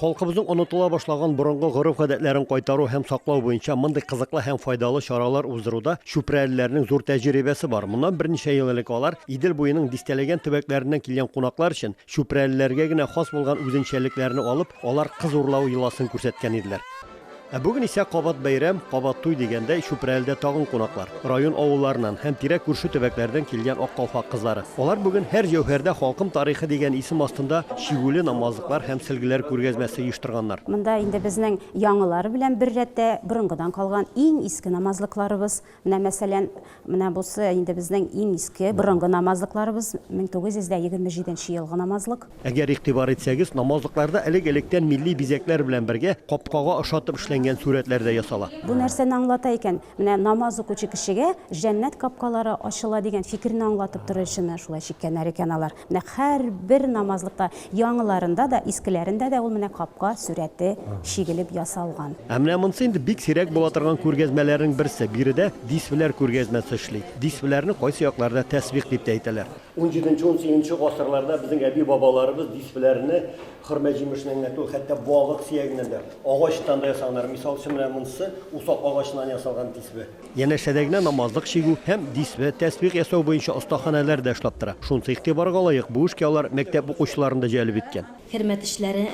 Халкыбызның онытыла башлаган борынгы гореф-гадәтләрен кайтару һәм саклау буенча мондый кызыклы һәм файдалы чаралар уздыруда чүпрәлеләрнең зур тәҗрибәсе бар. Моннан берничә ел элек алар Идел буеның дистәләгән төбәкләреннән килгән кунаклар өчен чүпрәлеләргә генә хас булган үзенчәлекләрне алып, алар кыз урлау йоласын күрсәткән иделәр. Ә бүген исә кабат бәйрәм, кабат туй дигәндәй, Чүпрәледә тагын кунаклар, район авылларыннан һәм тирә-күрше төбәкләрдән килгән Ак калфак кызлары. Алар бүген Һәр җәүһәрдә халкым тарихы дигән исем астында чигүле намазлыклар һәм сөлгеләр күргәзмәсе оештырганнар. Монда инде безнең яңалары белән беррәттә борынгыдан калган иң иске намазлыкларыбыз, Менә мәсәлән, менә бусы инде безнең иң иске, борынгы намазлыкларыбыз, 1927 нче елгы намазлык. Әгәр игътибар итсәгез, намазлыкларда элек-электән милли бизәкләр белән бергә капкага ошатып эшләнгән сурәтләр дә ясала. Бу нәрсәне аңлата икән? Менә намаз укучы кешегә җәннәт капкалары ачыла дигән фикерне аңлатып торучыны шулай чиккәннәр икән алар. Нәкъ һәрбер намазлыкта, яңыларында да, искеләрендә дә ул менә капка сурәте чигелеп ясалган. Ә менә монсы инде бик сирәк була торган күргәзмәләрнең берсе. Биредә дисвеләр күргәзмәсе эшли. Дисвеләрне кайсы якларда тәсбих дип тә әйтәләр. Унҗиденче, унсигезенче гасырларда безнең әби-бабаларыбыз дисвеләрне хөрмә җимешеннән генә түгел, хәтта балык сөягеннән дә, агачтан да ясаганнар. Мисал өчен, менә монсы усак агачыннан ясалган дисве. Янәшәдә генә намазлык чигү һәм дисве, тәсбих ясау буенча остаханәләр дә эшләп тора. Шунсы игътибарга лаек, бу эшкә алар мәктәп укучыларын да җәлеп иткән. Кермә тешләре,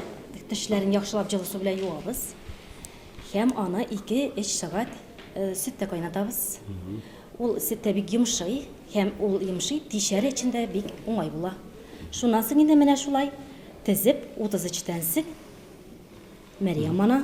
тешләрен яхшылап җылы су белән юабыз һәм аны ике-өч сәгать сөттә кайнатабыз. Ул сөттә бик йомшый һәм ул йомшый, тишәре өчен дә бик уңай була. Шуннан соң инде менә шулай тезеп, 33 тәнсек, Мәрьям ана,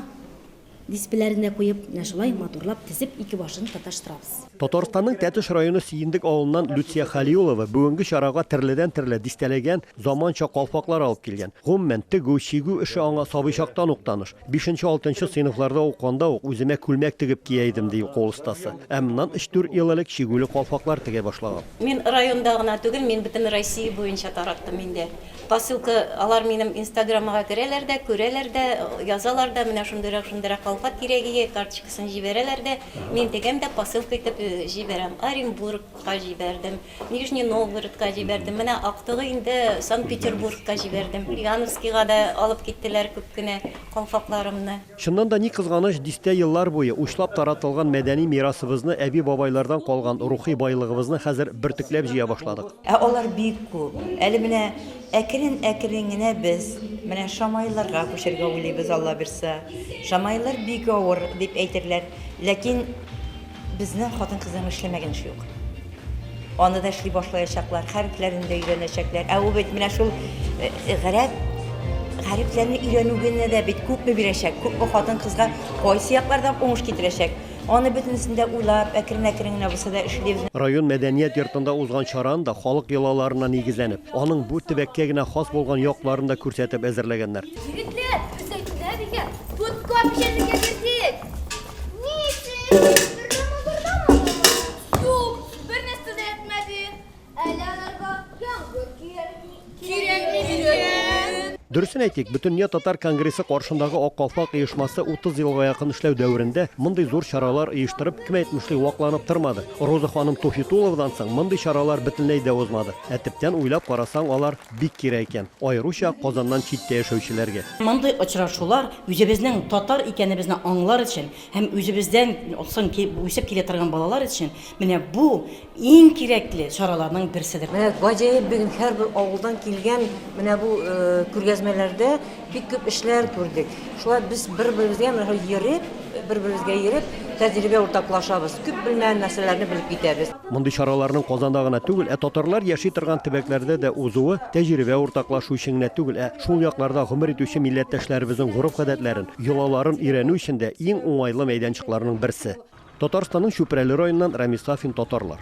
Диспләренә куеп, менә шулай матурлап тезеп, ике башын тоташтырабыз. Татарстанның Тәтеш районы Сиендек авылыннан Люция Хәлиуллова бүгенге чарага терледән-терле дистәләгән заманча калфаклар алып килгән. Гомумән, тегү, чигү эше аңа сабый чактан ук таныш. Бишенче-алтынчы сыйныфларда укыганда ук үземә күлмәк тегеп кия идем, ди кул остасы. Ә моннан өч-дүрт ел элек чигүле калфаклар тегә башлаган. Мин районда гына түгел, мин бөтен Россия буенча тараттым инде. Посылка, алар минем инстаграмыга керәләр дә, күрәләр дә, язалар да, менә шундыйрак, шундыйрак колфак кирәк ие, карточкасын җибәрәләр дә, мин тегәм дә посылка итеп җибәрәм. Оренбургка җибәрдем, Нижний Новгородка җибәрдем, менә актыгы инде Санкт-Петербургка җибәрдем. Яновскига да алып киттеләр күп кенә калфакларымны. Чыннан да, ни кызганыч, дистә еллар буе учлап таратылган мәдәни мирасыбызны, әби-бабайлардан калган рухи байлыгыбызны хәзер бөртекләп җыя башладык. Ә алар бик күп. Әле менә әкрен-әкрен генә без менә шамаилларга күчәргә уйлыйбыз, Алла бирса. Шамаиллар бик авыр, дип әйтерләр, ләкин. Безнең хатын-кызның эшләмәгән эше юк. Аны да эшли башлаячаклар, хәрефләрен дә өйрәнәчәкләр. Ә ул бит менә шул э, э, гарәп хәрефләрне өйрәнү генә дә бит күпме бирәчәк, күпме хатын-кызга кайсы яклардан уңыш китерәчәк. Аны бөтенесен дә уйлап, әкрен-әкрен генә булса да эшлибез. Район мәдәният йортында узган чараны да халык йолаларына нигезләнеп, аның бу төбәккә генә хас булган якларын да күрсәтеп әзерләгәннәр. Егетләр, өстәл кенә дигән, подкоп җәнлегә бирдек. Дөресен әйтик, Бөтендөнья татар конгрессы каршындагы Ак калфак оешмасы 30 елга якын эшләү дәверендә мондый зур чаралар оештырып, кем әйтмешли, вакланып тормады. Роза ханым Туфитуловадан соң мондый чаралар бөтенләй дә узмады. Ә төптән уйлап карасаң, алар бик кирәк икән, аеруча Казаннан читтә яшәүчеләргә. Мондый очрашулар үзебезнең татар икәнебезне аңлар өчен һәм үзебездән соң ки үсеп килә торган балалар өчен менә бу иң кирәкле чараларның берседер. Менә гаҗәеп бүген һәрбер авылдан килгән менә бу күргәзмәләрдә Бик күп эшләр күрдек. Шулай без бер-беребезгә йөреп, бер-беребезгә йөреп, тәҗрибә уртаклашабыз. Күп белмәгән нәрсәләрне белеп китәбез. Мондый чараларның Казанда гына түгел, ә татарлар яши торган төбәкләрдә дә узуы тәҗрибә уртаклашу өчен генә түгел, ә шул якларда гомер итүче милләттәшләребезнең гореф-гадәтләрен, йолаларын өйрәнү өчен дә иң уңайлы мәйданчыкларның берсе. Татарстанның Чүпрәле районыннан Рамис Сафин, Татарлар.